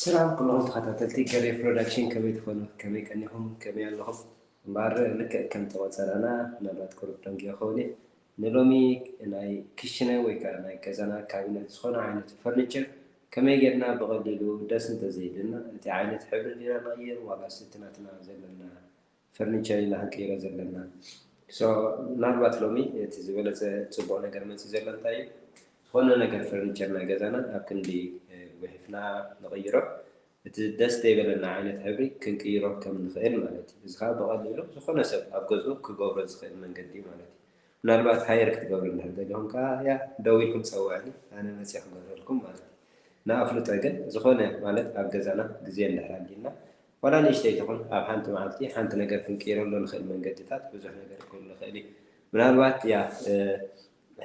ሰላም ኩሎም ተኸታተልቲ ገሬ ፕሮዳክሽን ከመይ ትኾኑ ከመይ ቀኒኹም ከመይ ኣለኹም እምበኣር ልክዕ ከም ተቖፀረና ምናልባት ቁሩብ ደንጊየ ኸውን እየ ንሎሚ ናይ ክሽነ ወይ ከዓ ናይ ገዛና ካቢነት ዝኾነ ዓይነት ፈርኒቸር ከመይ ጌርና ብቐሊሉ ደስ እንተዘይልና እቲ ዓይነት ሕብሪ ዲና ንቕይር ዋላስ እቲ ናትና ዘለና ፈርኒቸር ኢና ክንቅይሮ ዘለና so ምናልባት ሎሚ እቲ ዝበለጸ ጽቡቅ ነገር መጺኡ ዘሎ እንታይ እዩ ዝኮነ ነገር ፈርኒቸር ናይ ገዛና ኣብ ክንዲ ጉሒፍና ንቅይሮ እቲ ደስ ዘይበለና ዓይነት ሕብሪ ክንቅይሮ ከም ንክእል ማለት እዩ እዚ ከኣ ብቀሊሉ ዝኮነ ሰብ ኣብ ገዝኡ ክገብሮ ዝክእል መንገዲ እዩ ማለት እዩ ምናልባት ሃየር ክትገብሩ እንድሕር ደሊኩም ከኣ ያ ደዊልኩም ጸውዕኒ ኣነ መጺ ክገብረልኩም ማለት እዩ ንኣፍልጦ ግን ዝኮነ ማለት ኣብ ገዛና ግዜ እንድሕር ኣልዩና ዋላ ንእሽተይ ትኹን ኣብ ሓንቲ መዓልቲ ሓንቲ ነገር ክንቅይረሉ እንኽእል መንገድታት ብዙሕ ነገር ክህሉ ይኽእል እዩ። ምናልባት ያህ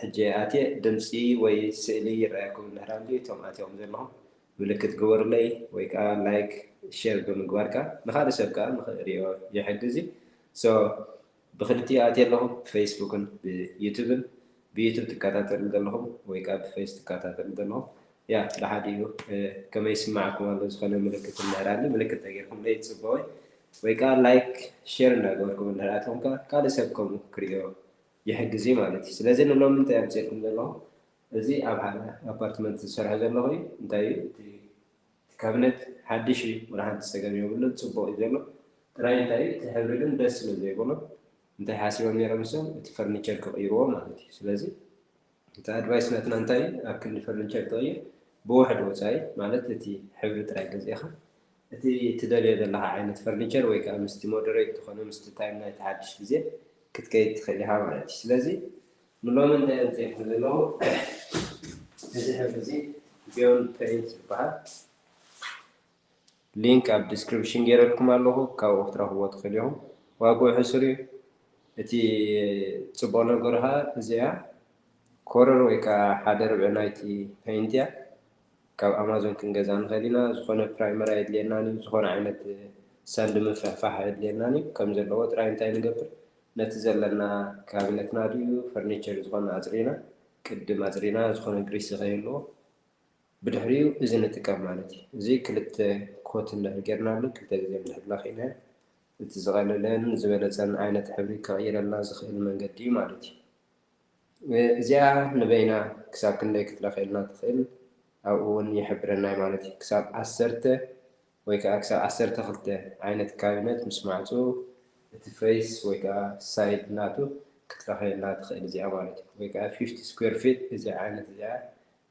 ሕጂ ኣትየ ድምጺ ወይ ስእሊ ይረኣየኩም እንድሕር ኣልዩ እቶም ኣትኹም ዘለኹም ምልክት ግበሩለይ ወይ ከኣ ላይክ ሼር ብምግባር ከኣ ንኻልእ ሰብ ከኣ ንኽሪኦ ይሕግዝ እዩ so ብክልቲኡ ኣትየ ኣለኹ ብፈይስቡክን ብዩቱብን ብዩቱብ ትካታተልኒ ዘለኹም ወይ ከኣ ብፈይስ ትካታተልኒ ዘለኹም ያእ ብሓደ እዩ ከመይ ይስማዓኩም ኣሎ ዝኾነ ምልክት እንድሕራኒ ምልክት ተገርኩምለይ ጽቡቕ ወይ ከኣ ላይክ ሼር እንዳገበርኩም እንድሕር ኣትኹም ከኣ ካልእ ሰብ ከምኡ ክርእዮ ይሕግዝ እዩ ማለት እዩ ስለዚ ንሎሚ እንታይ ኣምጽኤልኩም ዘለኹ እዚ ኣብ ሓደ ኣፓርትመንት ዝሰርሖ ዘለኹ እዩ እንታይ እዩ እቲ እቲ ካብኔት ሓድሽ እዩ ዋላ ሓንቲ ፀገም የብሉን ፅቡቅ እዩ ዘሎ ጥራይ እንታይ እቲ ሕብሪ ግን ደስ ስለ ዘይብሎ እንታይ ሓሲቦም ነይሮም ንሶም እቲ ፈርኒቸር ክቅይርዎ ማለት እዩ ስለዚ እቲ ኣድቫይስ ናትና እንታይ እዩ ኣብ ክንዲ ፈርኒቸር ትቅይር ብውሕድ ወፃኢ ማለት እቲ ሕብሪ ጥራይ ገዚእኻ እቲ ትደልዮ ዘለኻ ዓይነት ፈርኒቸር ወይ ከዓ ምስቲ ሞደሬት ዝኾነ ምስቲ ታይም ናይቲ ሓድሽ ግዜ ክትከይድ ትኽእል ኢኻ ማለት እዩ ስለዚ ንሎሚ እንታይ ኣምጺኤልኪ ዘለኹ እዚ ሕብሪ እዚ ቢዮንድ ፕሪንት ዝበሃል ሊንክ ኣብ ዲስክሪፕሽን ጌረልኩም ኣለኹ ካብኡ ክትረኽብዎ ትኽእሉ ኢኹም ዋግኡ ሕሱር እዩ እቲ ጽቡቕ ነገሩ ኸኣ እዚኣ ኮረር ወይ ከኣ ሓደ ርብዒ ናይቲ ፔይንት እያ ካብ ኣማዞን ክንገዝኣ ንኽእል ኢና ዝኾነ ፕራይመር ኣየድልየናን እዩ ዝኾነ ዓይነት ሳንዲ ምፍሕፋሕ ኣየድልየናን እዩ ከም ዘለዎ ጥራይ እንታይ ንገብር ነቲ ዘለና ካቢነትና ድዩ ፈርኒቸር ዝኾነ ኣጽሪና ቅድም ኣጽሪና ዝኾነ ግሪስ ንኸይህልዎ ብድሕሪኡ እዚ ንጥቀም ማለት እዩ። እዚ ክልተ ኮት እንድሕር ጌርናሉ ክልተ ግዜ እንድሕር ለኺዕናዮ እቲ ዝቐለለን ዝበለጸን ዓይነት ሕብሪ ከቕይረልና ዝኽእል መንገዲ እዩ ማለት እዩ። እዚኣ ንበይና ክሳብ ክንደይ ክትለኽየልና ትኽእል ኣብኡ እውን ይሕብረናይ ማለት እዩ። ክሳብ ዓሰርተ ወይ ከኣ ክሳብ ዓሰርተ ክልተ ዓይነት ካቢነት ምስ ማዕጽኡ እቲ ፈይስ ወይ ከኣ ሳይድ ናቱ ክትለኽየልና ትኽእል እዚኣ ማለት እዩ። ወይ ከኣ ፊፍቲ ስኩዌር ፊት እዚኣ ዓይነት እዚኣ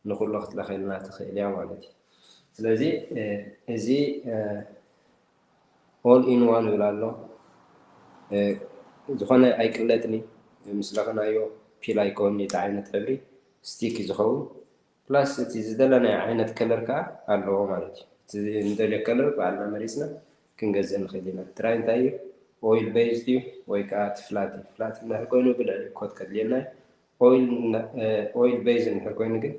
ንኹሉ ክትለኽየልና ትኽእል እያ ማለት እዩ። ስለዚ እዚ ኦል ኢን ዋን ይብል ኣሎ ዝኾነ ኣይቅለጥን እዩ ምስ ለኽናዮ ፒል ኣይኮን እቲ ዓይነት ሕብሪ ስቲክ እዩ ዝኸውን ፕላስ እቲ ዝደለናዮ ዓይነት ከለር ከኣ ኣለዎ ማለት እዩ። እቲ እንደልዮ ከለር ባዕልና መሪጽና ክንገዝእ ንኽእል ኢና። ጥራይ እንታይ እዩ ኦይል በይዝ ድዩ ወይ ከኣ እቲ ፍላት እዩ። ፍላት እንድሕር ኮይኑ ብልዕሊ ኮት ከድልየና እዩ። ኦይል ኦይል በይዝ እንድሕር ኮይኑ ግን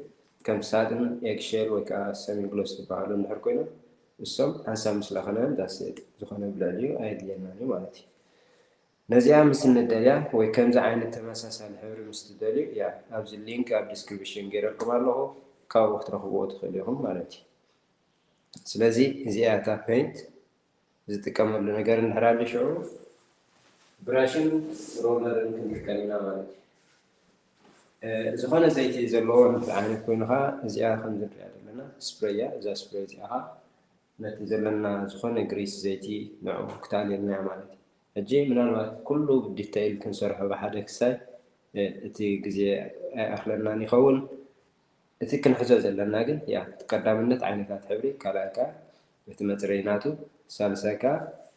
ከም ሳድን፣ ኤግ ሼል ወይ ከኣ ሰሚ ግሎስ ዝበሃሉ እንድሕር ኮይኖም እሶም ሓንሳብ ምስ ለኸናዮም ዳትስ ኢት ዝኾነ ብልዕሊኡ ኣየድልየናን እዩ ማለት እዩ። ነዚኣ ምስ እንደልያ ወይ ከምዚ ዓይነት ተመሳሳሊ ሕብሪ ምስ ትደልዩ እያ ኣብዚ ሊንክ ኣብ ዲስክሪብሽን ጌረልኩም ኣለኹ ካብኡ ክትረኽብዎ ትኽእሉ ኢኹም ማለት እዩ ስለዚ እዚኣ እያ እታ ፔንት ዝጥቀመሉ ነገር እንድሕር ኣሉ ሽዑ ብራሽን ሮለርን ክንጥቀም ኢና ማለት እዩ ዝኾነ ዘይቲ ዘለዎ ንፍዕ ዓይነት ኮይኑ ኸዓ እዚኣ ከምዚ ንሪኣ ዘለና ስፕሬይ እያ እዛ ስፕሬይ እዚኣ ኸዓ ነቲ ዘለና ዝኾነ ግሪስ ዘይቲ ንዑ ክተኣልየልናዮ ማለት እዩ። ሕጂ ምናልባት ኩሉ ብዲተይል ክንሰርሖ ብሓደ ክሳይ እቲ ግዜ ኣይኣኽለናን ይኸውን። እቲ ክንሕዞ ዘለና ግን ያቲ ቀዳምነት ዓይነታት ሕብሪ ካልኣይ ከኣ እቲ መጽረዪ ናቱ ሳልሳይ ከኣ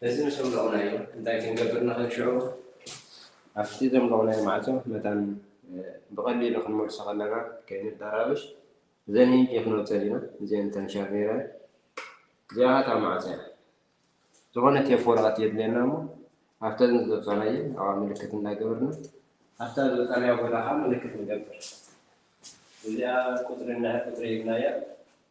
በዚ ምስ ኣምለቕናዮ እንታይ ክንገብር ንኽእል? ሽዑ ኣብቲ ዘምለቕናዮ ማዕጾ መታን ብቐሊሉ ክንመልሶ ከለና ከይንደራበሽ እዘን ሂንቂ ክነውጸን ኢና። እዚኤን እተን ሻርኔራ እየን። እዚኣ ኸኣ እታ ማዕጾ እያ። ዝኾነ ቴፕ ወረቐት የድልየና እሞ ኣብተን ዝወጻናየን ኣብኣ ምልክት እንዳገበርና ኣብታ ዝወጻናያ ቦታ ኸኣ ምልክት ንገብር። እዚኣ ቁጽሪ ቁጽሪ ሂብናያ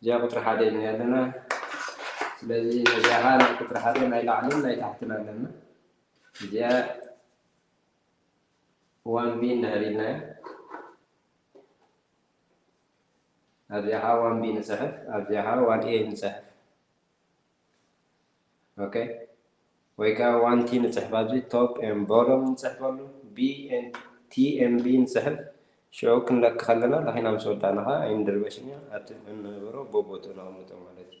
እዚኣ ቁፅሪ ሓደ ኢና ያለና ስለዚ ነዚኣ ከዓ ናይ ቁፅሪ ሓደ ናይ ላዕልን ናይ ታሕትን ኣለና እዚኣ ዋን ቢ እንድሕር ኢልና ኣብዚኣ ከዓ ዋን ቢ ንፅሕፍ ኣብዚኣ ከዓ ዋን ኤ ንፅሕፍ ኦከ ወይ ከኣ ዋን ቲ ንጽሕፍ ኣብዚ ቶፕ ኤም ቦሎም ንጽሕፈሉ ቢ ኤን ቲ ኤም ቢ ንጽሕፍ ሽዑ ክንለኪ ከለና ለኺና ምስ ወዳእና ከኣ ኣይንድርበሽን ኢና ኣብቲ እንህብሮ ቦቦትኡ ነቐምጦ ማለት እዩ።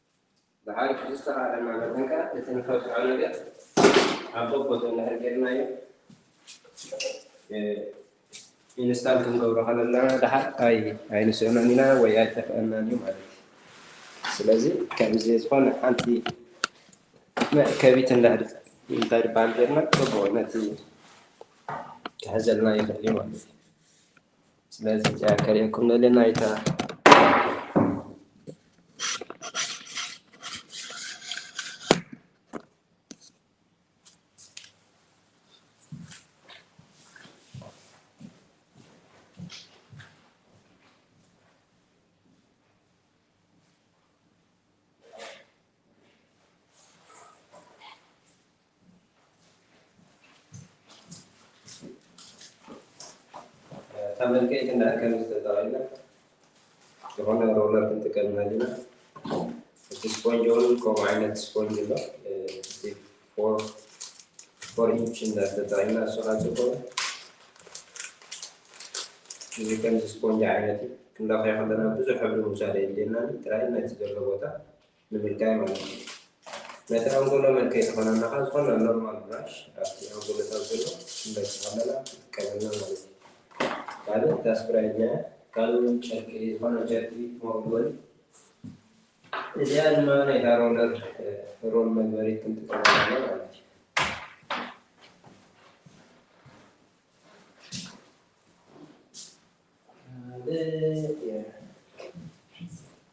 ብዓርኪ ብዝተኻእለና መጠን ከኣ እቲ ንኸብቅዖ ነገር ኣብ በቦቱ እንድሕር ጌርናዮ ኢንስታል ክንገብሮ ከለና ደሓር ኣይ ኣይንስእኖን ኢና ወይ ኣይጠፍኣናን እዩ ማለት እዩ። ስለዚ ከምዚ ዝኾነ ሓንቲ መእከቢት እንድሕር እንታይ ድበሃል ጌርና ጽቡቕ ነቲ ክሕዘልና ይኽእል እዩ ማለት እዩ። ስለዚ እዚኣ ከርእየኩም ደልየ ናይታ ተመልከይቲ ንኣከም ዝተጠቐለ ዝኾነ ሮለር ክንጥቀም ኣለና እቲ ስፖንጅ እውን ከምኡ ዓይነት ስፖንጅ ኣሎ ፎር ኢንች እንዳተጠቐምና እሱ ካብ ዝኾነ እዚ ከምዚ ስፖንጅ ዓይነት እዩ ክንለኽዮ ከለና ብዙሕ ሕብሪ ምውሳድ የድልየና ጥራይ ነቲ ዘሎ ቦታ ንምንታይ ማለት እዩ ነቲ ኣንጎሎ መልከይ ተኾናናኻ ዝኾነ ኖርማል ብራሽ ኣብቲ ኣንጎሎታት ዘሎ እንዳስተኻለላ ትጥቀመላ ማለት እዩ ካልእ እታ ስፕራይ እዚኣ ካልእ እውን ጨርቂ ዝኾነ ጨርቂ መወልወሊ እዚኣ ድማ ናይታ ሮለር ሮል መግበሪት ክንጥቀመላ ማለት እዩ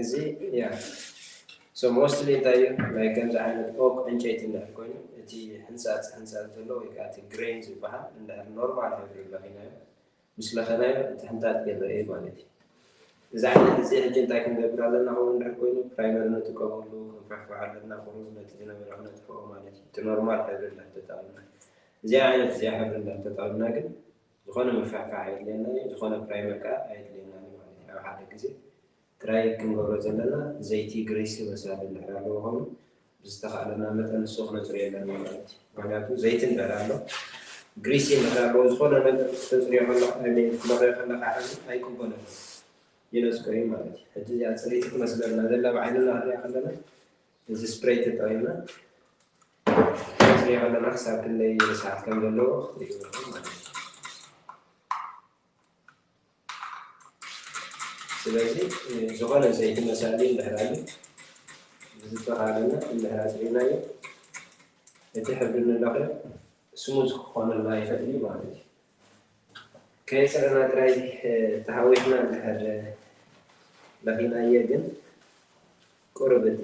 እዚ ያ ሞስትሊ እንታይ እዩ ናይ ከምዚ ዓይነት ኦክ ዕንጨይቲ እንድሕር ኮይኑ እቲ ሕንፃፅ ሕንፃፅ ዘሎ ወይ ከዓ እቲ ግሬን ዝበሃል እንድሕር ኖርማል ሕብሪ ለኺናዮ ምስ ለኸናዮ ምትሕንታጥ ይረኤ ማለት እዩ። እዚ ዓይነት እዚ ሕጂ እንታይ ክንገብር ኣለና ከምኡ እንድሕር ኮይኑ ፕራይመሪ ንጥቀመሉ ክንፍሕፍሕ ኣለና ቁሩብ ነቲ ዝነበረ ክነጥፍኦ ማለት እዩ እቲ ኖርማል ሕብሪ እንድሕር ተጠቅምና እዚኣ ዓይነት እዚኣ ሕብሪ እንድሕር ተጠቅምና ግን ዝኾነ ምፍሕፋሕ ኣየድልየናን እዩ ዝኾነ ፕራይመር ከኣ ኣየድልየናን እዩ ማለት እዩ ኣብ ሓደ ግዜ ጥራይ ክንገብሮ ዘለና ዘይቲ ግሪሲ መሳሊ እንድሕር ኣለዎ ኮይኑ ብዝተኻእለና መጠን ንሱ ክነጽርዮ ኣለና ማለት እዩ። ምኽንያቱ ዘይቲ እንድሕር ኣሎ ግሪሲ እንድሕር ኣለዎ ዝኾነ ነገር ክተጽርዮ ከለኻ ኣይ ሚን ክትለኽዮ ከለኻ ሕዚ ኣይቅበሎን እዩ ይነጽጎ እዩ ማለት እዩ። ሕጂ እዚኣ ጽርይቲ ትመስለና ዘላ ብዓይንና ክንሪኣ ከለና እዚ ስፕሬይ ተጠቒምና ክንጽርዮ ከለና ክሳብ ክንደይ ርስሓት ከም ዘለዎ ክትርእይዎ ኢኹም ማለት እዩ። ስለዚ ዝኾነ ዘይቲ መሳሊ እንድሕር ኣልዩ ብዝተኻለና እንድሕር ኣፅሪናዮ እቲ ሕብሪ ንለኽዮ ስሙዝ ክኾነልና ይኽእል እዩ ማለት እዩ። ከየፅረና ጥራይ ተሃዊኽና እንድሕር ለኺናዮ ግን ቁሩብ እቲ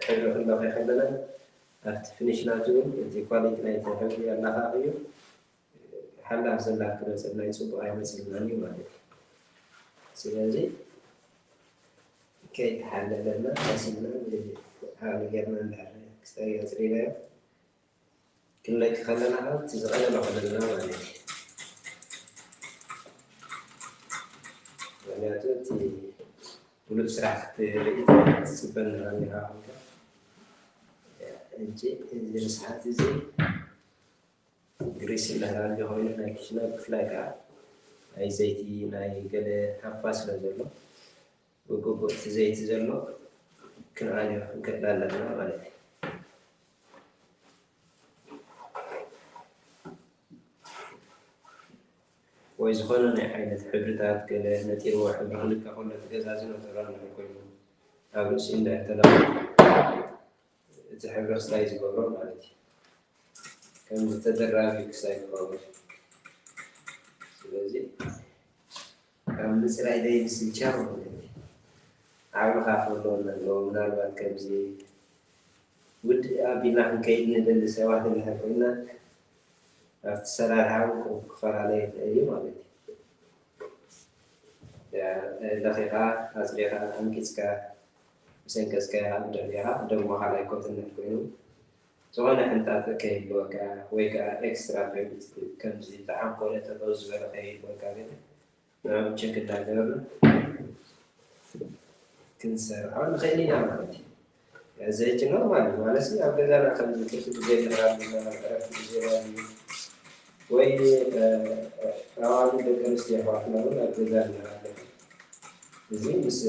ሕብሪ ክንለኽዮ ከለና ኣብቲ ፍኒሽ ናቱ እውን እቲ ኳሊቲ ናይቲ ሕብሪ ኣለኻኺዩ ሓላፍ ዘላፍ ክመጸልና ዩ ጽቡቅ ኣይመጽልናን ዩ ማለት ዩ ስለዚ ከይተሓለለና ቀሲንና ዓቅሊ ጌርና እንድሕር ክስታይ ኣጽሪናዮ ክንለቂ ከለና ከኣ እቲ ዝቀለለ ክኾነልና ማለት ዩ ምክንያቱ እቲ ብሉጽ ስራሕ ክትርኢ ትጽበና ኔራ ሕጂ እዚ ርስሓት እዚ ግሪስ ይበሃል ኣሎ ኮይኑ ናይ ኪችና ብፍላይ ከኣ ናይ ዘይቲ ናይ ገለ ሃፋ ስለ ዘሎ ብግቡእ እቲ ዘይቲ ዘሎ ክንኣልዮ ክንክእል ኣለና ማለት እዩ። ወይ ዝኾነ ናይ ዓይነት ሕብርታት ገለ ነጢርዎ ሕብሪ ክንከ ከሎ እቲ ገዛ ዝነጠሮ እንድሕር ኮይኑ ኣብ ርእሲኡ እንድሕር ተለኺፉ እቲ ሕብረስታይ ዝገብሮ ማለት እዩ ከምዚ ተደራቢ ክሳይ ክኸውን ስለዚ ካብ ምፅራይ ዘይምስልቻው ማለት እዩ ዓቕምኻ ክህልወና ኣለዎ ምናልባት ከምዚ ውድእ ኣቢልና ክንከይድ ንደሊ ሰባት እንድሕር ኮይና ኣብቲ ሰራርሓ እውን ክፈላለ ይኽእል እዩ ማለት እዩ ለኺኻ ኣፅሪኻ ኣንቂፅካ ብሰንኪ ኣስካያ ደርቢኻ ደሞ ካልኣይ ኮትነት ኮይኑ ዝኾነ ሕንጣጠ ከይህልወካ ወይ ከኣ ኤክስትራ ፔሪድ ከምዚ ዝዓንኮለ ጠጠው ዝበለ ከይህልወካ ግን ንዕኡ ቸክ እንዳገበርና ክንሰርዖ ንኽእል ኢና ማለት እዩ። እዚ ሕጂ ኖርማል እዩ ማለትሲ ኣብ ገዛና ከምዚ ትርፊ ግዜ ንራልና ዕረፍቲ ግዜ ናብዚ ወይ ኣዋልድ ደቂ ኣንስትዮ ኣሕዋትና እውን ኣብ ገዛ ንራለን እዚ ምስ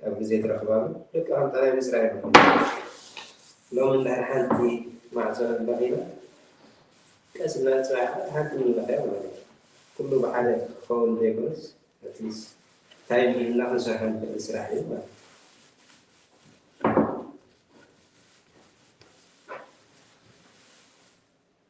ኣብ ግዜ ትረኽባሉ ደቂ ከም ጠላይ ምስራይ ሎሚ እንድሕር ሓንቲ ማዕጾ እንተኺኢላ ቀስ ኢልና ጽባሕ ከኣ ሓንቲ ምንለኸያ ማለት እዩ ኩሉ ብሓደ ክኸውን ዘይኮነስ ኣትሊስ ታይም ሂብና ክንሰርሖ ንኽእል ስራሕ እዩ ማለት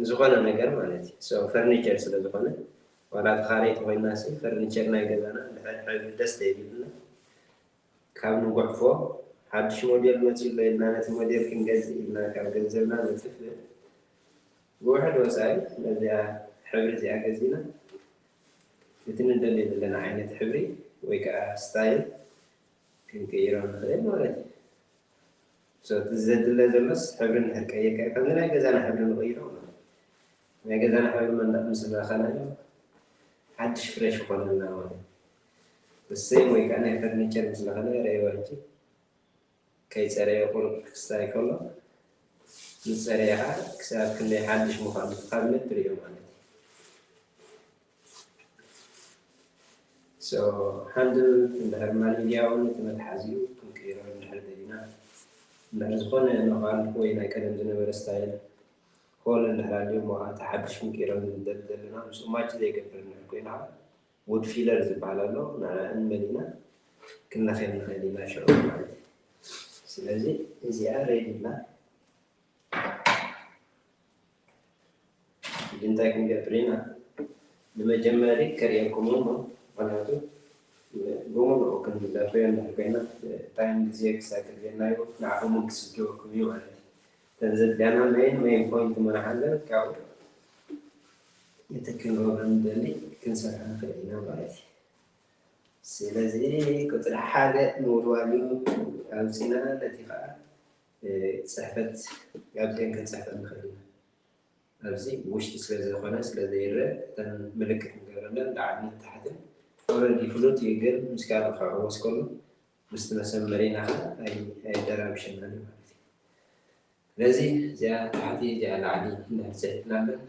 ንዝኾነ ነገር ማለት እዩ so ፈርኒቸር ስለ ዝኾነ ዋላ ተኻረይቲ ኮይናሲ ፈርኒቸር ናይ ገዛና እንድሕር ሕብሪ ደስ ተይብልና ካብ ንጉዕፎ ሓድሽ ሞዴል መፅዩ ኣሎ ኢልና ነቲ ሞዴል ክንገዝእ ኢልና ካብ ገንዘብና ነጥፍእ ብውሕድ ወፃኢ ነዚኣ ሕብሪ እዚኣ ገዚእና እቲ ንደልዮ ዘለና ዓይነት ሕብሪ ወይ ከዓ ስታይል ክንቅይሮ ንኽእል ማለት እዩ። So እቲ ዘድለ ዘሎስ ሕብሪ እንድሕር ቀይርካዮ ከምዚ ናይ ገዛና ሕብሪ ንቕይሮ ማለት እዩ። ናይ ገዛና ሕብሪ መንደቕ ምስ ለኸናዮ ሓድሽ ፍረሽ ይኾነልና ማለት እዩ። The same way ከኣ ናይ ፈርኒቸር ምስ ለኸናዮ ረኣይዋ ሕጂ ከይጸረየ ቁሩብ ክስታይ ከሎ ምስ ጸረየ ከኣ ክሳብ ክንደይ ሓድሽ ምዃኑ እቲ ካብኔት ትርእዮ ማለት እዩ። ሃንድል እንድሕር ማልንግያ እውን እቲ መትሓዚኡ ክንቅይሮ እንድሕር ደሊና እንድሕር ዝኾነ ኖካል ወይ ናይ ቀደም ዝነበረ ስታይል ኮል እንድሕር ኣልዩ እሞ ከዓ እቲ ሓዱሽ ክንቅይሮ ንደሊ ዘለና ምስኡ ማች ዘይገብር እንድሕር ኮይኑ ከዓ ውድ ፊለር ዝበሃል ኣሎ ንዓ እንመሊና ክንለኽየም ንኽእል ኢና ሽዑ ማለት እዩ ስለዚ እዚኣ ሬድ ኢልና ሕጂ እንታይ ክንገብር ኢና ንመጀመሪ ከርእየኩም እሞ ምክንያቱ ብሙሉኡ ክንደርብዮ እንድሕር ኮይና ታይም ግዜ ክሳብ ገድገድናዮ ንዓኹም ውን ክስልችወኩም እዩ ማለት እዩ እተን ዘድልያና መይን መይን ፖይንት ምንሓለን ካብኡ እቲ ክንገብሮ ንደሊ ክንሰርሖ ንኽእል ኢና ማለት እዩ ስለዚ ቁፅሪ ሓደ ምውልዋል እዩ ኣምፂና ነቲ ከዓ ጽሕፈት ኣብዚኤን ክንጽሕፈን ንኽእል ኢና። ኣብዚ ብውሽጢ ስለ ዘይኮነ ስለ ዘይረእ እተን ምልክት ንገብረለን ላዕልን ታሕትን ኦረዲ ፍሉጥ እዩ ግን ምስ ካልእ ክዕወስ ከሎ ምስቲ መሰመሪና ከ ኣይደራብሸናን እዩ ማለት እዩ። ስለዚ እዚኣ ታሕቲ እዚኣ ላዕሊ እንድሕር ጽሒፍናለን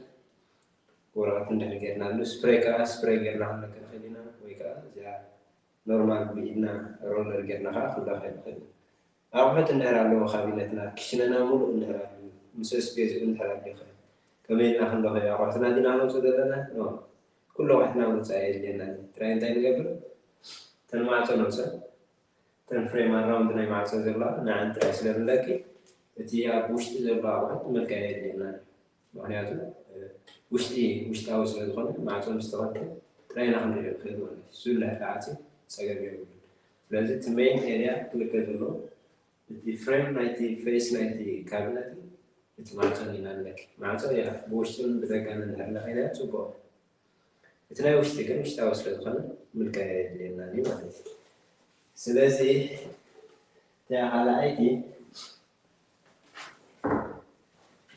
ወረቐት እንድሕር ጌርናሉ ስፕሬይ ከዓ ስፕሬይ ጌርና ክንለቅቕ ንኽእል ኢና ወይ ከዓ እዚኣ ኖርማል ብኢድና ሮለር ጌርና ከዓ ክንለቕቕ ንኽእል ኢና። ኣቑሑት እንድሕር ኣለዎ ካቢነትና ክሽነና ሙሉእ እንድሕር ኣልዩ ምስ ስፔሱ እንድሕር ኣልዩኸ ከመይ ኢልና ክንለኽዮ ኣቑሑትና ዲና ነውጽእ ዘለና ን ኩሉ ኣቑሑትና ምውጻእ ኣየድልየናን እዩ ጥራይ እንታይ ንገብር እተን ማዕጾ ነውጽኣን እተን ፍሬም ኣራውንድ ናይ ማዕጾ ዘለዋ ንዐን ጥራይ ስለ ንለኪ እቲ ኣብ ውሽጢ ዘሎ ኣቑሑት ምልካይ ኣየድልየናን እዩ ምኽንያቱ ውሽጢ ውሽጣዊ ስለ ዝኾነ ማዕጾ ምስ ተኸፍተ ጥራይ ኢና ክንርእዮ ንኽእል ማለት እዩ። ዝብላዕ ክዓጺ ጸገም የብሉን። ስለዚ እቲ መይን ኤርያ ክልከ ዘለዎ እቲ ፍሬም ናይቲ ፈይስ ናይቲ ካቢነትን እቲ ማዕጾን ኢና ንለኪ። ማዕጾ እያ ብውሽጥን ብደጋን እንድሕር ለኺናዮ ጽቡቕ እዩ። እቲ ናይ ውሽጢ ግን ውሽጣዊ ስለ ዝኾነ ምልካይ ኣየድልየናን እዩ ማለት እዩ። ስለዚ እቲኣ ካልኣይቲ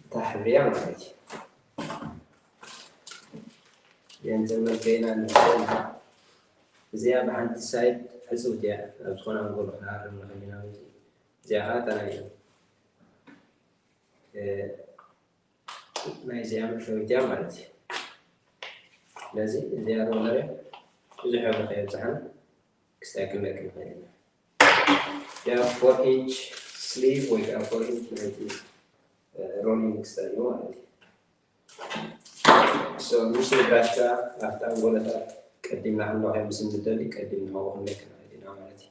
እታ ሕብሪ እያ ማለት እዩ። የንጽል መልከይና ንርእየና እዚኣ ብሓንቲ ሳይድ ሕጽብቲ እያ ናብ ዝኾነ ኣንጎሎ ክንሃርም ንኽእል ኢና ማለት እዩ። እዚኣ ከዓ እታ ናይ ናይ እዚኣ መፈዊት እያ ማለት እዩ። ስለዚ እዚኣ ሮለር ብዙሕ ሕብሪ ከየብዛሕና ክስተካክለልክ ንኽእል ኢና። እዚኣ ፎር ኢንች ስሊቭ ወይ ከዓ ፎር ኢንች ናይቲ ሮሊንግ ስተን እዩ ማለት እዩ። ሶ ምስ ብራሽ ከዓ ኣብቲ ኣንጎሎታት ቀዲምና ክንለኽዮ ምስ እንደሊ ቀዲም ንኸው ክንለክ ንኽእል ኢና ማለት እዩ።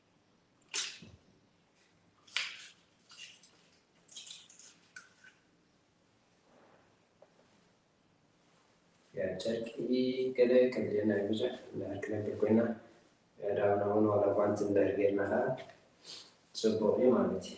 ጨርቂ ገለ ከምዘና ብዙሕ ክነብር ኮይና ዳብና እውን ዋላ ጓንት እምበር ጌርና ከዓ ፅቡቅ እዩ ማለት እዩ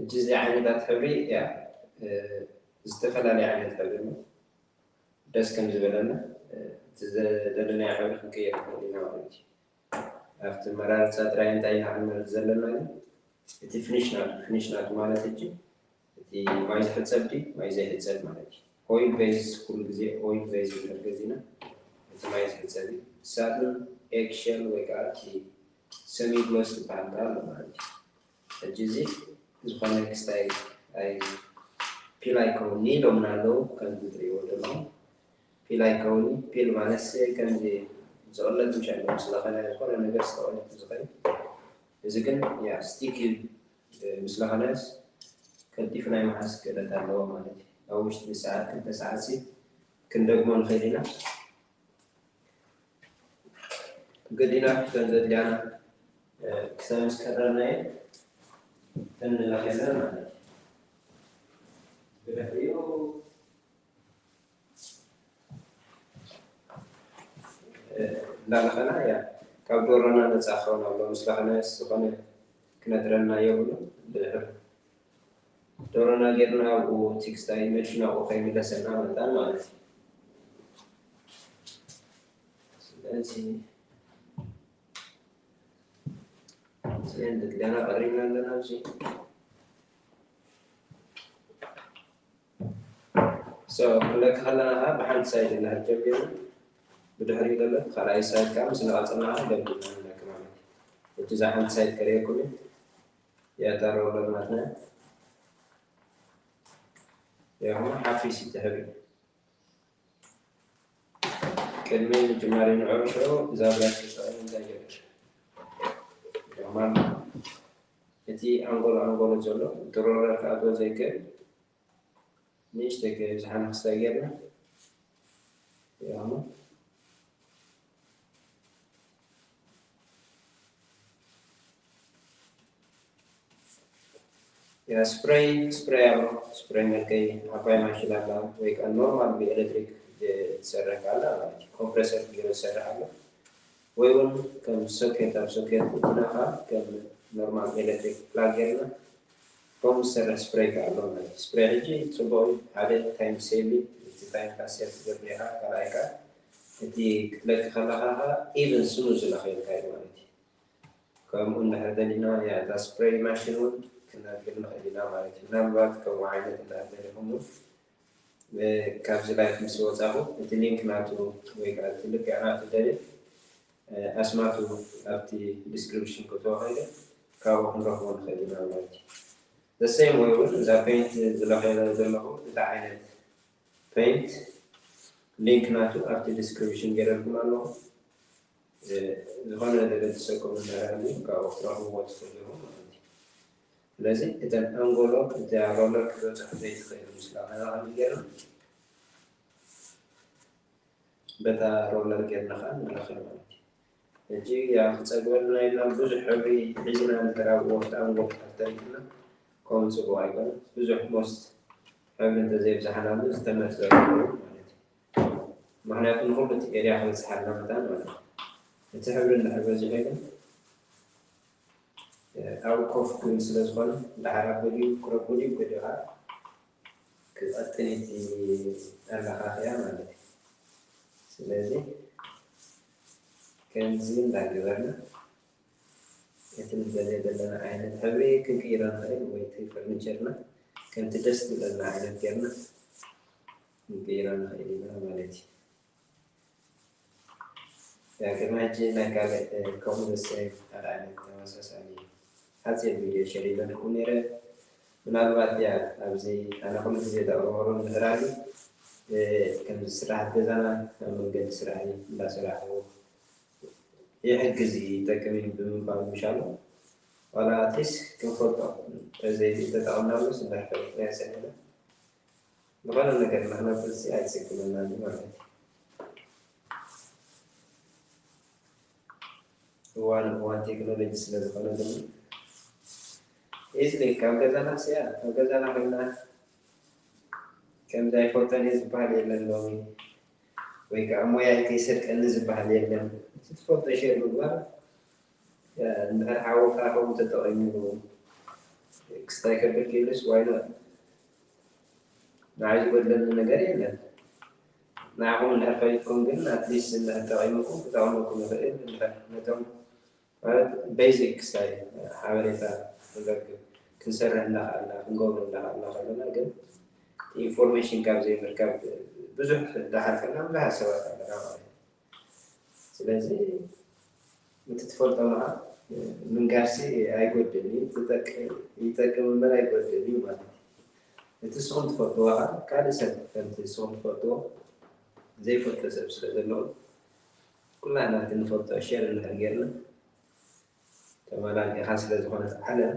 እጅ እዚ ዓይነታት ሕብሪ እያ ዝተፈላለየ ዓይነት ሕብሪ ነው ደስ ከም ዝበለና እቲ ዘደለናዮ ሕብሪ ክንቀይር ንኽእል ኢና ማለት እዩ ኣብቲ ኣመራርፃ ጥራይ እንታይ ኢና ክንመርፅ ዘለና ግን እቲ ፍኒሽ ናቱ ፍኒሽ ናቱ ማለት ሕጂ እቲ ማይ ዝሕፀብ ድዩ ማይ ዘይሕፀብ ማለት እዩ ኦይል ቤዝ ኩሉ ግዜ ኦይል ቤዝ ንብል ገዚና እቲ ማይ ዝሕፀብ እዩ ሳጥን ኤግ ሸል ወይ ከዓ እቲ ሰሚ ግሎስ ዝበሃል ከዓ ኣሎ ማለት እዩ ሕጂ እዚ ዝኾነ ክስታይ ኣይ ፒል ኣይከውን ኒሎምና ኣለዉ ከምዚ ትሪእዎ ዘለኹም ፒል ኣይከውን እዩ ፒል ማለትስ ከምዚ ዝቅለድ ምሸ ኣሎ ምስ ለከነ ዝኮነ ነገር ዝተቀለድ ዝከይድ እዚ ግን ያእ ስቲክ እዩ ምስ ለከነስ ቀልጢፉ ናይ ምሓዝ ክእለት ኣለዎ ማለት እዩ ኣብ ውሽጢ ሰዓት ክልተ ሰዓትሲ ክንደግሞ ንክእል ኢና ገዲና ከም ዘድልያና ክሳብ ምስ ቀረብናየ ተንለከለን ማለት እዩ ብድሕሪኡ እንዳለኸና እያ ካብ ዶሮና ነፃ ክኸውን ኣሎ ምስ ለኸና ዝኾነ ክነጥረና የብሉ ድሕር ዶሮና ጌርና ኣብኡ ቲክስታይ መሽን ኣብኡ ከይምለሰና መጣን ማለት እዩ ስለዚ ስለዚ ገና ቀሪብና ኣለና ኣብዚ So ክንለኪ ከለና ከኣ ብሓንቲ ሳይድ ኢና ጀሚርና ብድሕሪኡ ደሎ ብካልኣይ ሳይድ ከኣ ምስ ነቐጸልና ከኣ ደምዲምና ንለኪ ማለት እዩ። ሕጂ እዛ ሓንቲ ሳይድ ከርእየኩም እዩ። የእታ ሮለር ናትና እያ። ያኹም ሓፊስ ትሕብሪ ቅድሚ ምጅማሪ ንዕርሾ እዛ ብላሽ ተጠቐሚ እንታይ ጀሚር ያኹም ኣሎ እቲ ኣንጎሎ ኣንጎሎ ዘሎ ድሮረር ክኣትዎ ዘይክእል ንእሽተይ ከይብዝሓ መኽሰብ ጌርና ይቕመጥ። ያ ስፕረይ ስፕረይ ኣሎ ስፕረይ መልከይ ዓባይ ማሽን ኣላ ወይ ከዓ ኖርማል ብኤሌክትሪክ ዝሰርሕ ካላ ማለት እዩ ኮምፕረሰር ጌሩ ዝሰርሕ ኣሎ ወይ ውን ከም ሶኬት ኣብ ሶኬት እቲና ከኣ ከም ኖርማል ኤለትሪክ ፕላግ ጌርና ከምኡ ዝሰርሕ ስፕረይ ከኣ ኣሎ ማለት እዩ ስፕረይ ሕጂ ጽቡቅ እዩ ሓደ ታይም ሴቪን እቲ ታይም ከኣ ሴቭ ትገብር ኢካ ካልኣይ ከኣ እቲ ክትለኪ ከለካ ከኣ ኢቭን ስሙዝ ዝለክየልካ እዩ ማለት እዩ ከምኡ እንድሕር ደሊና እያ እታ ስፕረይ ማሽን ውን ክነግር ንክእል ኢና ማለት እዩ ምናልባት ከምኡ ዓይነት እንድሕር ደሊኩም ውን ካብዚ ላይፍ ምስ ወጻኹ እቲ ሊንክ ናቱ ወይ ከኣ እቲ ልክዕ ናቱ ደልየ ኣስማቱ ኣብቲ ዲስክሪፕሽን ከእትዎ ከይደ ካብኡ ክንረኽቦ ንኽእል ኢና ማለት እዩ። The same way ውን እዛ ፐይንት ዝለኽየላ ዘለኹ እቲ ዓይነት ፐይንት ሊንክ ናቱ ኣብቲ ዲስክሪፕሽን ጌረልኩም ኣለኹ ዝኾነ ዘገድሰኩም እንተሃልዩ ካብኡ ክትረኽብዎ ትኽእሉ ኢኹም። ስለዚ እተን ኣንጎሎ እታ ሮለር ክትበጽሖ ዘይትኽእል ምስላ ነዛ ከመይ ጌርና በታ ሮለር ጌርና ከኣ ንለኽዮ ማለት እዩ። ሕጂ ያው ክጸግበልና ኢልና ብዙሕ ሕብሪ ሒዝና እንድሕር ኣብ ወፍሪ ኣንጎሎ ተሪፍና ከምኡ ጽቡቕ ኣይኮነን። ብዙሕ ሞስት ሕብሪ እንተዘይብዛሕናሉ ዝተመርጸ ይኸውን ማለት እዩ። ምኽንያቱ ንኹሉ እቲ ኤርያ ክበጽሓልና መታን ማለት እዩ። እቲ ሕብሪ እንድሕር በዚሑ ግን ኣብኡ ኮፍ ክብል ስለ ዝኾነ ደሓር ኣበልዩ ክረክቦ ድዩ ገዲኡ ከኣ ክቀጥን እዩ እቲ ኣለኻኽያ ማለት እዩ። ስለዚ ከምዚ እንዳ ገበርና እቲ ንደልዮ ዘለና ዓይነት ሕብሪ ክንቅይሮ ንኽእል ወይ እቲ ፈርኒቸርና ከምቲ ደስ ዝብለና ዓይነት ጌርና ክንቅይሮ ንኽእል ኢና ማለት እዩ። ዳግም ሕጂ ናይ ካልእ ከምኡ ዘሰይ ኣልዓለ ተመሳሳሊ ሓጺር ቪድዮ ሸር ኢለልኩም ኔረ ምናልባት ድያ ኣብዚ ኣነ ኩሉ ግዜ ዘቕርበሉ ንህራሪ ከምዚ ስራሓት ገዛና ኣብ መንገዲ ስራሕይ እንዳሰራሕኩ ይሕግዝ እዩ ይጠቅም እዩ ብምባል ምሻሉ ዋላ ኣትሊስ ክንፈልጦ ተዘይሉ ተጠቐምናሉስ እንዳሕፈርኩ ናይ ሰለለ ዝኾነ ነገር ንኽነብርሲ ኣይጽግመናን እዩ ማለት እዩ። እዋን እዋን ቴክኖሎጂ ስለ ዝኾነ ድማ ኢዝሊ ካብ ገዛና ስያ ካብ ገዛና ኮይና ከምዚ ኣይፈልጦን እየ ዝበሃል የለን ሎሚ ወይ ከዓ ሞያይ ከይሰርቀኒ ዝበሃል የለን እቲ ትፈልጦ ሼር ምግባር እንድሕር ሓውካ ከምኡ ተጠቒምሉ ክስታይ ከብል ክኢሉስ ዋይኖት ንዓይ ዝጎድለኒ ነገር የለን ንዓኹም እንድሕር ፈሊጥኩም ግን ኣትሊስት እንድሕር ጠቂሙኩም ክጠቅመኩም ይኽእል እንድሕር ነቶም ማለት ቤዚክ ክሳይ ሓበሬታ ንረክብ ክንሰርሕ እንዳኸኣልና ክንገብሮ እንዳኸኣልና ከለና ግን ኢንፎርሜሽን ካብ ዘይምርካብ ብዙሕ ዳሓልፈና ብዙሓት ሰባት ኣለና ማለት እዩ ስለዚ እቲ ትፈልጦ መኣ ምንጋርሲ ኣይጎድልን እዩ፣ ትጠቅም ይጠቅም እምበር ኣይጎድልን እዩ ማለት እዩ። እቲ ንስኹም ትፈልጥዎ ከኣ ካልእ ሰብ ከምቲ ንስኹም ትፈልጥዎ ዘይፈልጦ ሰብ ስለ ዘሎ ኩላህና እቲ ንፈልጦ ሼር እንድሕር ጌርና ተማላሊእኻ ስለ ዝኾነት ዓለም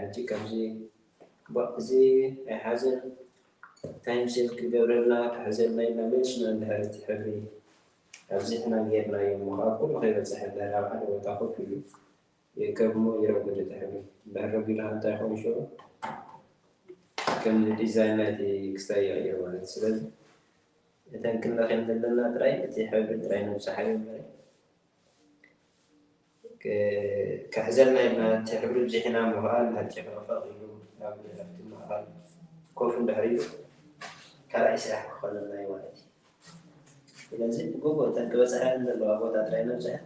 ሕጂ ከምዚ እዚ ኣይሓዘን ታይም ሴቭ ክገብረልና ክሕዘልና ኢልና መልስና እንድሕር እቲ ሕብሪ ኣብዚሕና ጌርናዮ እሞ ካብ ኩሉ ከይበፀሐ ድሕር ኣብ ሓደ ቦታ ኮፍ ኢሉ ይርከብ እሞ ይረጉድ እቲ ሕብሪ። እንድሕር ረጊዱ ከ እንታይ ይኸውን ሽዑ? ከም ንዲዛይን ናይቲ ክስታይ ይቕይሮ ማለት እዩ። ስለዚ እተን ክንለኽየን ዘለና ጥራይ እቲ ሕብሪ ጥራይ ነብጽሓዮ እምበሪ ክሕዘልና ኢልና እቲ ሕብሪ ኣብዚሕና እሞ ከኣ እንድሕር ጨፍረቕረቕ ኢሉ ኣብ ኣብቲ ማእከል ኮፍ እንድሕር ኢሉ ካልኣይ ስራሕ ክኾነና እዩ ማለት እዩ። ስለዚ ብግቡእ እተን ክበጽሓየን ዘለዋ ቦታ ጥራይ ነብጽሐን።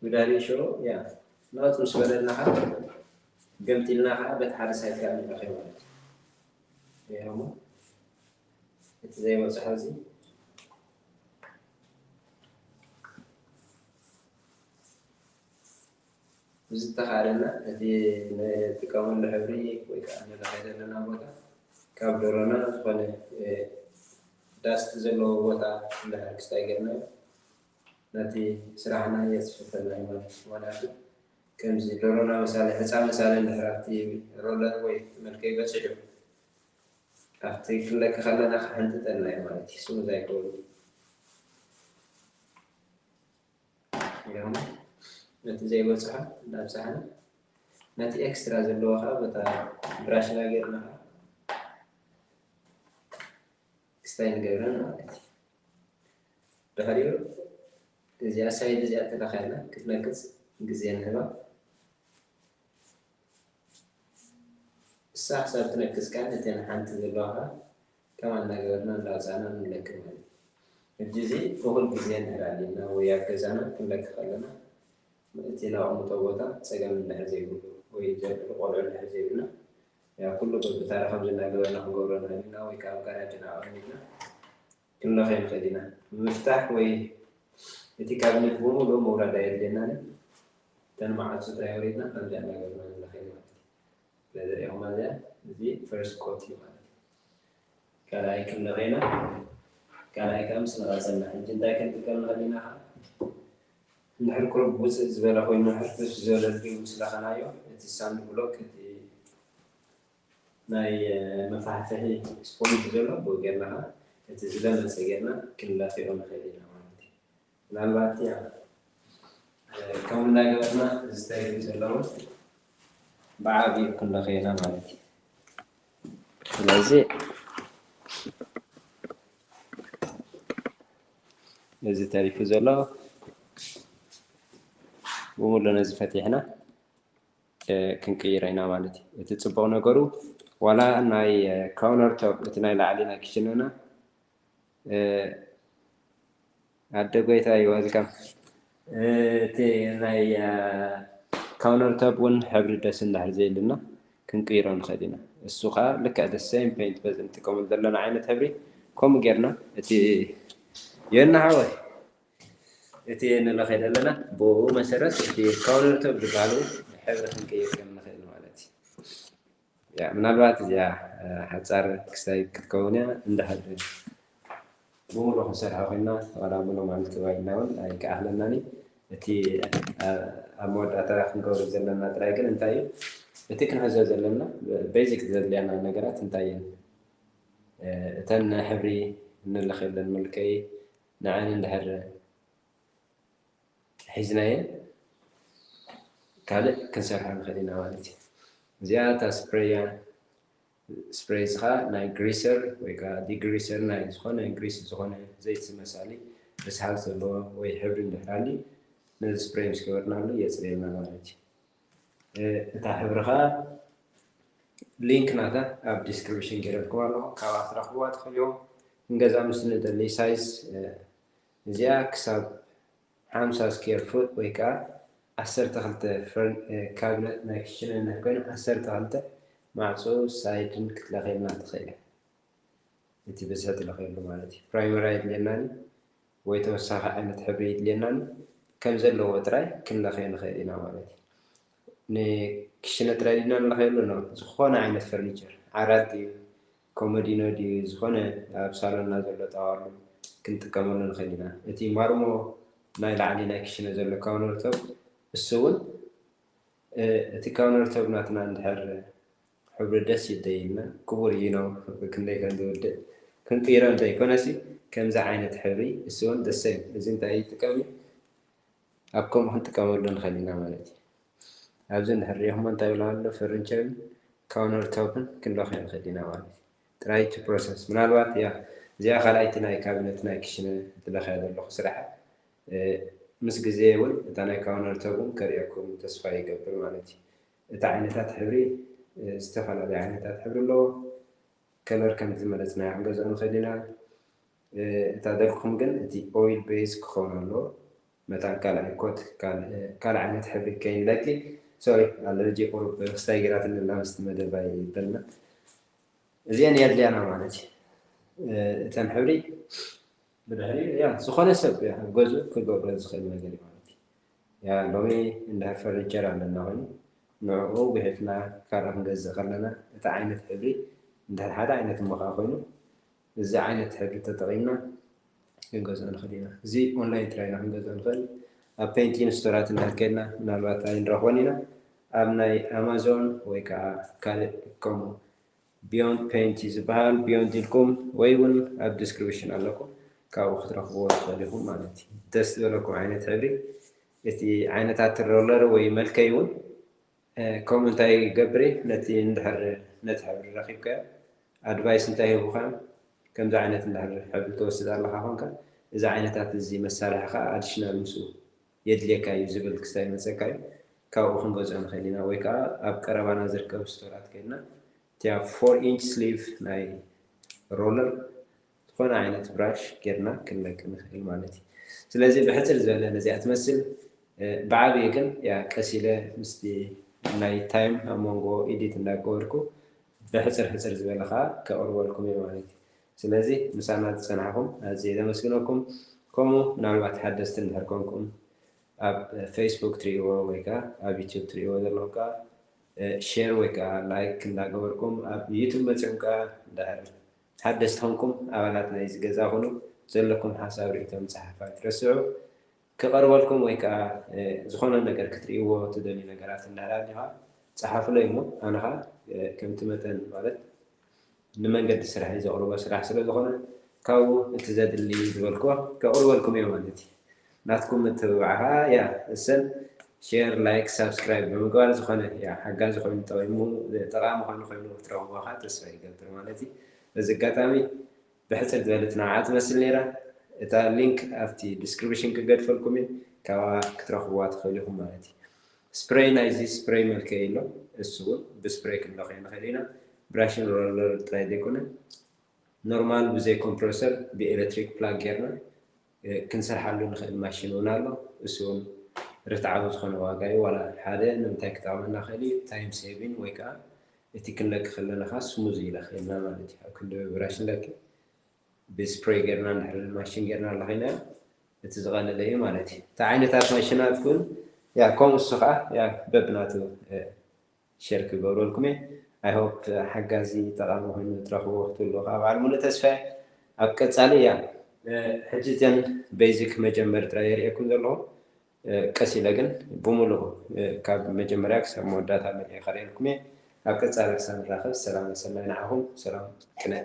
ጉዳልይ ሾው ያ ናውቲ ምስ በለና ከኣ ገምጢልና ከኣ በቲ ሓደ ሳይት ከኣ ንረክዮ ማለት እዩ ሪኢኻ እሞ እቲ ዘይበጽሖ እዚ ብዝተኻእለና እቲ ንጥቀመሉ ሕብሪ ወይ ከኣ ንለኸይ ዘለና ቦታ ካብ ደሮና ዝኾነ ዳስት ዘለዎ ቦታ እንድሕር ክስታይ ጌርናዮ ነቲ ስራሕና የጽፍፈልና እዩ ማለት እዩ። ምክንያቱ ከምዚ ደሮና ምሳሌ ሕጻን ምሳሌ እንድሕር ኣብቲ ሮለር ወይ ኣብቲ መልከይ በጺሑ ኣብቲ ክንለኪ ከለና ክሕንጥጠልና እዩ ማለት እዩ። ስሙዝ ኣይከውንን። ይኹን ነቲ ዘይበጽሖ እንዳብጻሕና ነቲ ኤክስትራ ዘለዎ ከኣ በታ ብራሽና ጌርና ከኣ ክስታይ ንገብረን ማለት እዩ ድሕሪኡ እዚኣ ሳይድ እዚኣ ተለኻይና ክትነቅፅ ግዜ ንህባ እሳ ክሳብ ትነቅፅ ከዓ ነተን ሓንቲ ዘለዋ ከዓ ከም ኣናገርና እንዳውጻእና ንለኪ ማለት እዩ ሕጂ እዚ እኩል ግዜ እንድሕር ኣልዩና ወይ ኣብ ገዛና ክንለኪ ከለና እቲ ነቅምጦ ቦታ ጸገም እንድሕር ዘይብሉ ወይ ንዘልዕሉ ቆልዑ እንድሕር ዘይብልና ያው ኩሉ በብታራ ከምዚ እንዳገበርና ክንገብሮ ንክእል ኢና ወይ ከኣ ኣብ ጋራጅና ኣቀሚጥና ክንለክዮ ንክእል ኢና ምፍታሕ ወይ እቲ ካብኔት ብምሉኡ ምውራድ ኣየድልየናን እዩ እተን መዓጹ እንታይ ኣውሪድና ከምዚ ኣናገርና ንለክየን ማለት እዩ ነዚ ሪኢኹማ እዚኣ እዚ ፈርስት ኮት እዩ ማለት እዩ ካልኣይ ክንለኸይና ካልኣይ ከዓ ምስ ነቐፀልና ሕጂ እንታይ ክንጥቀም ንኽእል ኢና ከዓ እንድሕር ቁሩብ ውፅእ ዝበለ ኮይኑ ሕርፍፍ ዝበለ ድሪው ምስ ለኸናዮ እቲ ሳንድ ብሎክ እቲ ናይ መፋሕፍሒ ስፖንጅ ዘሎ ብኡ ጌርና ከዓ እቲ ዝለመፀ ጌርና ክንለኽዮ ንኽእል ኢና ማለት እዩ ምናልባት ያው ከምኡ እንዳገበርና ዝስተርዩ ዘለውን ብዓብይኡ ክንለኽዮ ኢና ማለት እዩ። ስለዚ እዚ ተሪፉ ዘሎ ብሙሉ ነዚ ፈቲሕና ክንቅይሮ ኢና ማለት እዩ። እቲ ፅቡቕ ነገሩ ዋላ ናይ ካውነር ቶፕ እቲ ናይ ላዕሊ ናይ ክሽነና ኣደ ጎይታይ ወልካም እቲ ናይ ካውነር ቶብ እውን ሕብሪ ደስ እንዳሕር ዘይልና ክንቅይሮ ንኽእል ኢና እሱ ከዓ ልክዕ ደ ሰም ፔንት በዚ ንጥቀመሉ ዘለና ዓይነት ሕብሪ ከምኡ ጌርና እቲ የና ሓወይ እቲ ንለኸይ ዘለና ብኡ መሰረት እቲ ካውነር ቶብ ዝበሃሉ ሕብሪ ክንቅይር ከም ንኽእል ማለት እዩ ምናልባት እዚኣ ሓጻር ክስታይ ክትከውን እያ እንድሕር ብሙሉ ክንሰርሖ ኮይና ዋላ ሙሉ ማለት ጥባይ ኢልና ውን ኣይከኣክለናን እዩ እቲ ኣብ መወዳእታ ክንገብሮ ዘለና ጥራይ ግን እንታይ እዩ እቲ ክንሕዞ ዘለና ቤዚክ ዘድልያና ነገራት እንታይ እየን እተን ሕብሪ እንልኸለን መልከይ ንዐን እንድሕር ሒዝናየን ካልእ ክንሰርሓ ንኽእል ኢና ማለት እዩ። እዚኣ እታ ስፕረይ እያ። ስፕረይ እዚ ኸኣ ናይ ግሪሰር ወይ ከኣ ዲግሪሰር ናይ ዝኾነ ግሪስ ዝኾነ ዘይቲ ዝመሳሊ ርስሓት ዘለዎ ወይ ሕብሪ እንድሕር ሃልዩ ነዚ ስፕረይ ምስ ገበርናሉ የጽርየልና ማለት እዩ። እታ ሕብሪ ኸኣ ሊንክ ናታ ኣብ ዲስክሪፕሽን ገይረልኩም ኣለኹ ካብኣ ክትረኽብዋ ትኽእሉ። ክንገዝኣ ምስ ንደሊ ሳይዝ እዚኣ ክሳብ ሓምሳ ስኬር ፉት ወይ ከኣ ዓሰርተ ክልተ ፍርን ካብነት ናይ ክችነ እንሕ ኮይና ዓሰርተ ክልተ ማዕጾ ሳይድን ክትለክየልና ትክእል እያ እቲ ብዝሒ ትለክየሉ ማለት እዩ ፕራይመሪ ኣይድልየናን እዩ ወይ ተወሳኪ ዓይነት ሕብሪ ኣይድልየናን እዩ ከም ዘለዎ ጥራይ ክንለክዮ ንክእል ኢና ማለት እዩ ንክችነ ጥራይ ድና ንለክየሉ ን ዝኮነ ዓይነት ፈርኒቸር ዓራት ድዩ ኮመዲኖ ድዩ ዝኾነ ኣብ ሳሎንና ዘሎ ጣዋሉ ክንጥቀመሉ ንኽእል ኢና። እቲ ማርሞ ናይ ላዕሊ ናይ ክሽነ ዘሎ ካውነርቶፕ እሱ ውን እቲ ካውነርቶፕ ናትና እንድሕር ሕብሩ ደስ ይደይልና ክቡር ዩኖ ክንደይ ከም ዝውድእ ክንቅይሮ እንተይኮነሲ ከምዚ ዓይነት ሕብሪ እሱ ውን ደሰ እዚ እንታይ ይጥቀም እዩ ኣብ ከምኡ ክንጥቀመሉ ንኽእል ኢና ማለት እዩ። ኣብዚ እንድሕር ርኢኹሞ እንታይ ይብሉ ኣሎ ፈርንቸርን ካውነር ቶፕን ክንለኽዮ ንኽእል ኢና ማለት እዩ። Try to process ምናልባት እያ እዚኣ ካልኣይቲ ናይ ካቢነት ናይ ክሽነ ዝለኽያ ዘለኹ ስራሐ ምስ ግዜ እውን እታ ናይ ካውነር ቶፕ እውን ከርእየኩም ተስፋ ይገብር ማለት እዩ። እቲ ዓይነታት ሕብሪ ዝተፈላለዩ ዓይነታት ሕብሪ ኣለዎ። ከለር ከምቲ ዝመረፅናዮ ክንገዝኦ ንኽእል ኢና። እታ ደርፍኹም ግን እቲ ኦይል ቤዝ ክኸውን ኣለዎ መታን ካልኣይ ኮት ካልእ ዓይነት ሕብሪ ከይንለኪ ሶሪ ኣለርጂ ቁሩብ ክስታይ ጌራትኒ ኣላ ምስቲ መደባይ በልና እዚኤን የድልያና ማለት እዩ እተን ሕብሪ ብድሕሪ ያ ዝኾነ ሰብ ገዙ ክገብሮ ዝኽእል ነገር እዩ ማለት እዩ ያ ሎሚ እንዳ ፈርኒቸር ኣለና ኮይኑ ንዕኡ ጉሒፍና ካልእ ክንገዝእ ከለና እቲ ዓይነት ሕብሪ እንድሕር ሓደ ዓይነት እሞ ከዓ ኮይኑ እዚ ዓይነት ሕጊ ተጠቒምና ክንገዝኦ ንኽእል ኢና። እዚ ኦንላይን ጥራይ ኢና ክንገዝኦ ንኽእል። ኣብ ፔንቲን ስቶራት እንድሕር ኬድና ምናልባት ኣይንረኽቦን ኢና። ኣብ ናይ ኣማዞን ወይ ከኣ ካልእ ከምኡ ቢዮንድ ፔንት እዩ ዝበሃል ቢዮንድ ኢልኩም ወይ እውን ኣብ ዲስክሪፕሽን ኣለኩ ካብኡ ክትረኽብዎ ትኽእሉ ኢኹም ማለት እዩ። ደስ ዝበለኩም ዓይነት ሕብሪ እቲ ዓይነታት ሮለር ወይ መልከይ እውን ከምኡ እንታይ ገብሪ ነቲ እንድሕር ነቲ ሕብሪ ረኪብካዮ ኣድቫይስ እንታይ ሂቡካ እዮም ከምዚ ዓይነት እንድሕር ሕብሪ ትወስድ ኣለካ ኮንካ እዚ ዓይነታት እዚ መሳርሒ ከኣ ኣድሽናል ምስኡ የድልየካ እዩ ዝብል ክሳብ ይመጸካ እዩ ካብኡ ክንገዝኦ ንክእል ኢና ወይ ከኣ ኣብ ቀረባና ዝርከቡ ስቶራት ከድና እቲኣ ፎር ኢንች ስሊቭ ናይ ሮለር ዝኾነ ዓይነት ብራሽ ጌርና ክንለቂ ንኽእል ማለት እዩ። ስለዚ ብሕጽር ዝበለ ነዚኣ ትመስል። ብዓብዩ ግን ያእ ቀስ ኢለ ምስቲ ናይ ታይም ኣብ መንጎ ኢዲት እንዳገበርኩ ብሕጽር ሕጽር ዝበለ ከኣ ከቕርበልኩም እየ ማለት እዩ። ስለዚ ምሳና ዝጸናሕኩም ኣዝየ ዘመስግነኩም። ከምኡ ምናልባት ሓደስቲ እንድሕር ኮንኩም ኣብ ፈይስቡክ ትርእይዎ ወይ ከኣ ኣብ ዩቱብ ትርእይዎ ዘለኹም ከኣ ሼር ወይ ከኣ ላይክ እንዳገበርኩም ኣብ ዩቱብ መጺኹም ከኣ እንድሕር ሓደስቲ ኮንኩም ኣባላት ናይዚ ገዛ ኩኑ፣ ዘለኩም ሓሳብ ርእይቶ ምጽሓፍ ኣይትረስዑ። ክቀርበልኩም ወይ ከኣ ዝኮነ ነገር ክትርእይዎ ትደልዩ ነገራት እንድሕር ኣልዩካ ጸሓፉለይ እሞ ኣነ ከኣ ከምቲ መጠን ማለት ንመንገዲ ስርሐይ ዘቅርቦ ስራሕ ስለ ዝኮነ ካብኡ እቲ ዘድሊ ዝበልክዎ ከቅርበልኩም እየ ማለት እየ። ናትኩም ምትብባዕራ እያ እሰን ሼር ላይክ ሳብስክራይብ ብምግባር ዝኾነ ያእ ሓጋዚ ኮይኑ ጠቂሙ ጠቃሚ ኮይኑ ኮይኑ ክትረኽብዎ ካኣ ተስፋ ይገብር ማለት እዩ በዚ ኣጋጣሚ ብሕጽር ዝበለ ትናዓዓ ትመስል ነይራ እታ ሊንክ ኣብቲ ድስክርብሽን ክገድፈልኩም እየ ካብኣ ክትረኽብዋ ትኽእሉ ኢኹም ማለት እዩ ስፕረይ ናይዚ ስፕረይ መልክዕ እዩ ኣሎ እሱ እውን ብስፕረይ ክንለኽዮ ንኽእል ኢና ብራሽን ሮለር ጥራይ ዘይኮነ ኖርማል ብዘይ ኮምፕረሰር ብኤሌክትሪክ ፕላግ ጌርና ክንሰርሓሉ ንኽእል ማሽን እውን ኣሎ እሱ እውን ርትዓዊ ዝኾነ ዋጋ እዩ ዋላ ሓደ ንምንታይ ክጠቕመና ይኽእል እዩ ታይም ሴቪን ወይ ከኣ እቲ ክንለኪ ከለና ከኣ ስሙዝ ይለኽየልና ማለት እዩ ኣብ ክንዲ ብብራሽ ንለኪ ብስፕሬይ ጌርና እንድሕሪ ንማሽን ጌርና ለኺናዮ እቲ ዝቐለለ እዩ ማለት እዩ እቲ ዓይነታት ማሽናት ግን ከምኡ እሱ ከኣ በብናቱ ሸር ክገብረልኩም እየ ኣይ ሆፕ ሓጋዚ ጠቃሚ ኮይኑ ትረክብዎ ክትብልዎ ከኣ በዓል ሙሉእ ተስፋ እየ ኣብ ቀጻሊ እያ። ሕጂ እዘን በይዚክ መጀመሪ ጥራይ እየ ርእየኩም ዘለኩ ቀስ ኢለ ግን ብሙሉኡ ካብ መጀመርያ ክሳብ መወዳእታ መሊኤ ከርእየልኩም እየ ኣብ ቀጻሊ ክሳብ ንራከብ ሰላም ሰናይ ንዓኩም ሰላም ቅነ።